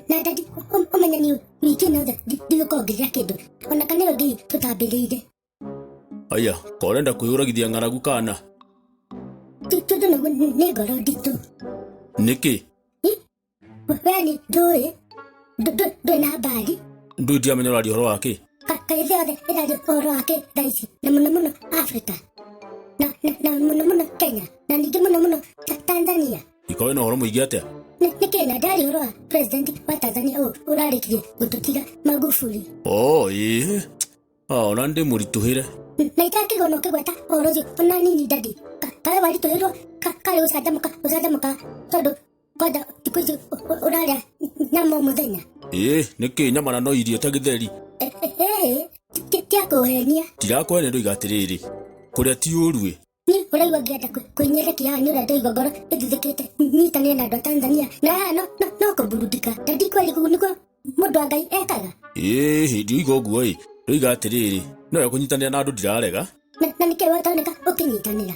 na ndadi ũmenya nĩ wiki nothe ndigũkongithia kĩndũ ona kanero ngei tũtambĩrĩire aya ko ũrenda kwĩyũragithia ng'aragu kana tondũ naguo nĩ ngoro nditũ nĩkĩ Weli ndũĩ ndũ- ndũ- ndũĩ na mbari ndå ndiamenya å raria å horo wakä Ka- kaĩ thĩ yothe ĩraria ũhoro wake thaa ici na mũno mũno africa na, na, na mũno mũno kenya na ningĩ mũno mũno ta, tanzania ikorwo na å horo må ingä atä Nĩ nĩ kĩ na ndari ũhoro wa president wa tanzania ũyũ ũrarĩkirie gũtũtiga magufuli o ä ona ndä må ritå hä re na itakĩgwo no kĩgweta ũhoro ũcio ona nini ndadi Ka- kaĩ waritũhĩrwo ka- karĩ gũcanjamũka gũcanjamũka tondũ kwanja thikå ici å rarä nyama må thenya ĩĩ nĩ kĩ nyama na no irio ta gĩtheri tiakå henia tirakũhenia ndoiga atĩrĩrĩ kũrĩa ti ũruĩ ni ũraigua ngĩenda kwĩnyerekia nĩ ũrĩa ndaigua ngoro ĩthuthĩkĩte nyitanĩre na andũ a tanzania na haha no no no kũmburudika na ndikweri kũu nĩkuo mũndũ wa ngai ekaga ĩĩ hĩndĩ ũiga ũguo ĩ ndoiga atĩrĩrĩ no ya kũnyitanĩra na andũ ndirarega na na nĩkĩ wataoneka ũkĩnyitanĩra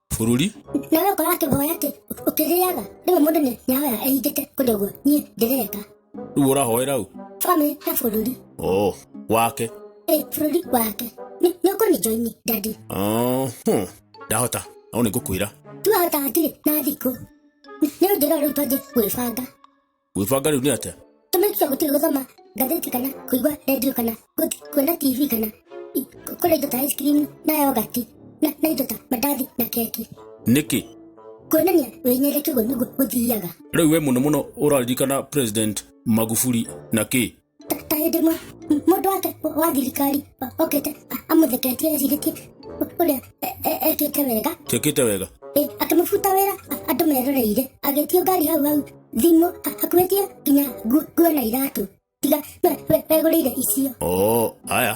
bũrũri na we ũkora akĩhoya atĩ ũkĩrĩaga rĩmwe mũndũ nĩ nyahoya ehingĩte kũndũ guo niĩ ndĩreka rĩu ũrahoera u bamĩ he bũrũri oh wake ĩ bũrũri wake Nĩ- nĩ ũkũni joini ndadi oh, hmm. ndahota no nĩ ngũkwĩra tuahota hatirĩ na thikũ nĩ ũnjĩra rĩu twanjĩ gwĩbanga gwĩbanga rĩu nĩ atĩa tũmĩkiga gũtiga gũthoma ngathĩti kana kũigua redio kana gũthi- kuona tv kana i- kũ- kũrĩa indo ta ice cream na yogati na na indo ta mandathi na keki nĩkĩ kuonania wĩnyendete guo nĩguo gũthiaga rĩu we mũno mũno ũraririkana president magufuli na kĩ ta hĩndĩ mwa- m- mũndũ wake wa thirikari o- okĩte a- amũtheketie ecirĩtie ũ- ũrĩa e- e- ekĩte wega Tekite wega. Ĩ, akĩmũbuta wĩra a- andũ meroreire agĩtio ngari hau hau thimũ a- akuĩtie nginya ngu- nguo na iratũ tiga we- we- wegũrĩire icio Oh, haya.